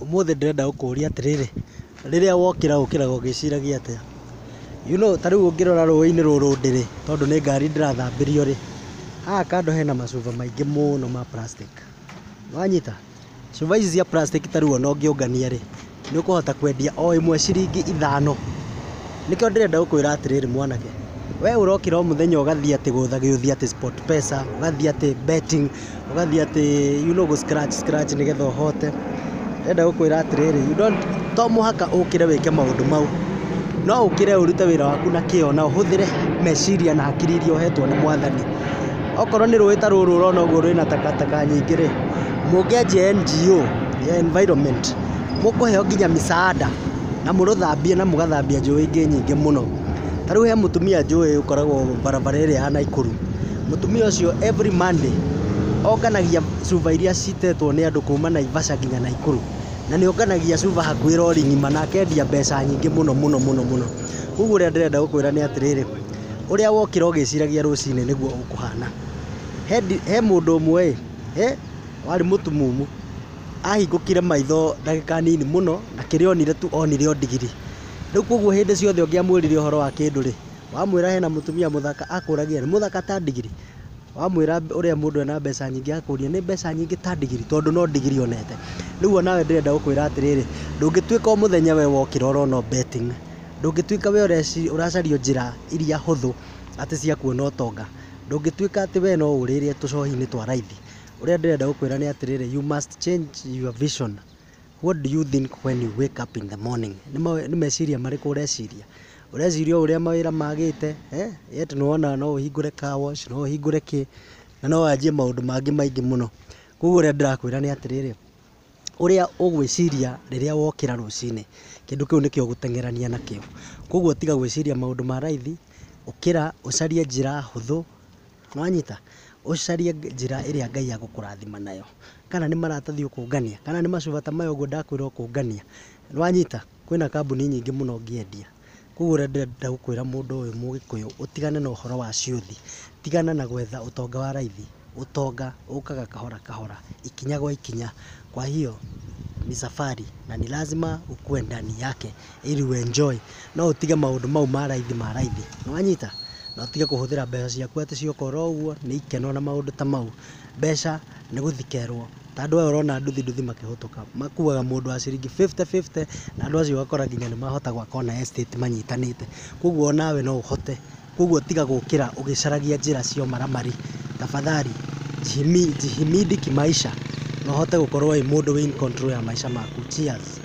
Ũmũthĩ ndĩrenda gũkũria atĩrĩrĩ, rĩrĩa wokĩra ũkĩraga ũgĩciragia atĩa? You know ta rĩu ũngĩrora rũĩ-inĩ rũrũ ndĩrĩ, tondũ nĩ ngari ndĩrathambĩrio rĩ, haha kando hena macuba maingĩ mũno ma plastic. Nĩ wanyita? Cuba ici cia plastic ta rĩu ona ũngĩũngania rĩ, nĩ ũkũhota kwendia o ĩmwe ciringi ithano. Nĩkĩo ndĩrenda gũkwĩra atĩrĩrĩ mwanake, we ũrokĩra o mũthenya ũgathiĩ atĩ gũtha gĩũthi atĩ Sportpesa, ũgathiĩ atĩ betting, ũgathiĩ atĩ you know gũ scratch scratch nĩgetha ũhote. Ndĩrenda gũkwĩra atĩrĩrĩ, you don't, to mũhaka ũkĩre wĩke maũndũ mau. No ũkĩre ũrute wĩra waku na kĩo na ũhũthĩre meciria na hakiri iria ũhetwo nĩ Mwathani. Okorwo nĩ rũĩ ta rũrũ ũrona ũguo rwĩna takataka nyingĩ-rĩ, mũngĩanjia NGO ya environment. mũkũheo nginya mĩcaanda na mũrũthambie na mũgathambia njũĩ ingĩ nyingĩ mũno. Ta rĩu he mũtumia njũĩ ũkoragwo barabara ĩrĩa ya Naikuru. Mũtumia ũcio every Monday onganagia cuba iria citetwo nĩ andũ kuuma Naivasha nginya Naikuru. Na nĩ onganagia cuba hakuhĩ rori ng'ima na akendia mbeca nyingĩ mũno mũno mũno mũno. Kwoguo ũrĩa ndĩrenda gũkwĩra nĩ atĩrĩrĩ, ũrĩa wokĩra ũgĩciragia rũcinĩ nĩguo ũkũhana. He mũndũ ũmwe ĩ, warĩ mũtumumu, ahingũkire maitho ndagĩka nini mũno na kĩrĩa onire tu onire o ndigiri. Rĩu koguo hĩndĩ ciothe ũngĩamwĩrire ũhoro wa kĩndũ rĩ, wamwĩra hena mũtumia mũthaka akũragia rĩ, mũthaka ta ndigiri? Wamwĩra ũrĩa mũndũ ena mbeca nyingĩ akũria nĩ mbeca nyingĩ ta ndigiri? Tondũ no ndigiri onete. Rĩu o nawe ndĩrenda gũkwĩra atĩrĩrĩ, ndũngĩtuĩka o mũthenya we wokĩra ũrona o betting. Ndũngĩtuĩka we ũracaria njĩra iria hũthũ atĩ cia kuona ũtonga. Ndũngĩtuĩka atĩ we no ũrĩre tũcohi-inĩ twa raithi. Ũrĩa ndĩrenda gũkwĩra nĩ atĩrĩrĩ, you must change your vision. What do you think when you wake up in the morning? Nĩ meciria marĩkũ ũreciria? Ũreciria o ũrĩa mawĩra magĩte, yet nĩ wona no ũhingũre car wash, no ũhingũre kĩ, na no wanjie maũndũ mangĩ maingĩ mũno. Kũguo ũrĩa ndĩrakwĩra nĩ atĩrĩrĩ, ũrĩa ũgwĩciria rĩrĩa wokĩra rũcinĩ, kĩndũ kĩu nĩkĩo ũgũteng'erania nakĩo. Kũguo tiga gwĩciria maũndũ ma raithi, ũkĩra ũcarie njĩra hũthũ Nĩwanyita? Ũcarie njĩra ĩrĩa Ngai agũkũrathima nayo. Kana nĩ maratathi ũkũngania, kana nĩ macuba ta maya ũguo ndakwĩra ũkũngania. Nĩwanyita? Kwĩna kambuni nyingĩ mũno ũngĩendia. Koguo ũrĩa ndĩrenda gũkwĩra mũndũ ũyũ mũgĩkũyũ, ũtigane na ũhoro wa ciũthi. Tigana na gwetha ũtonga wa raithi. Ũtonga ũkaga kahora kahora, ikinya gwa ikinya. Kwa hiyo, ni safari na ni lazima ukue ndani yake. ili ũ enjoy. No ũtige maũndũ mau ma raithi ma raithi. Nĩ wanyita? Na ũtige kũhũthĩra mbeca ciaku atĩ cia ũkora ũguo, nĩ ikeno na maũndũ ta mau. Mbeca nĩ gũthikerwo. Ta andũ aya ũrona nduthi nduthi makĩhĩtũka, makuaga mũndũ wa ciringi fifty fifty, na andũ acio ũgakora nginya nĩ mahota gwaka ona estate manyitanĩte. Kwoguo o nawe no ũhote. Kwoguo tiga gũkĩra ũgĩcaragia njĩra cia ũmaramari. Tafadhali, jihimidi kimaisha na ũhote gũkorwo wĩ mũndũ wĩ in control ya maica maku. Cheers.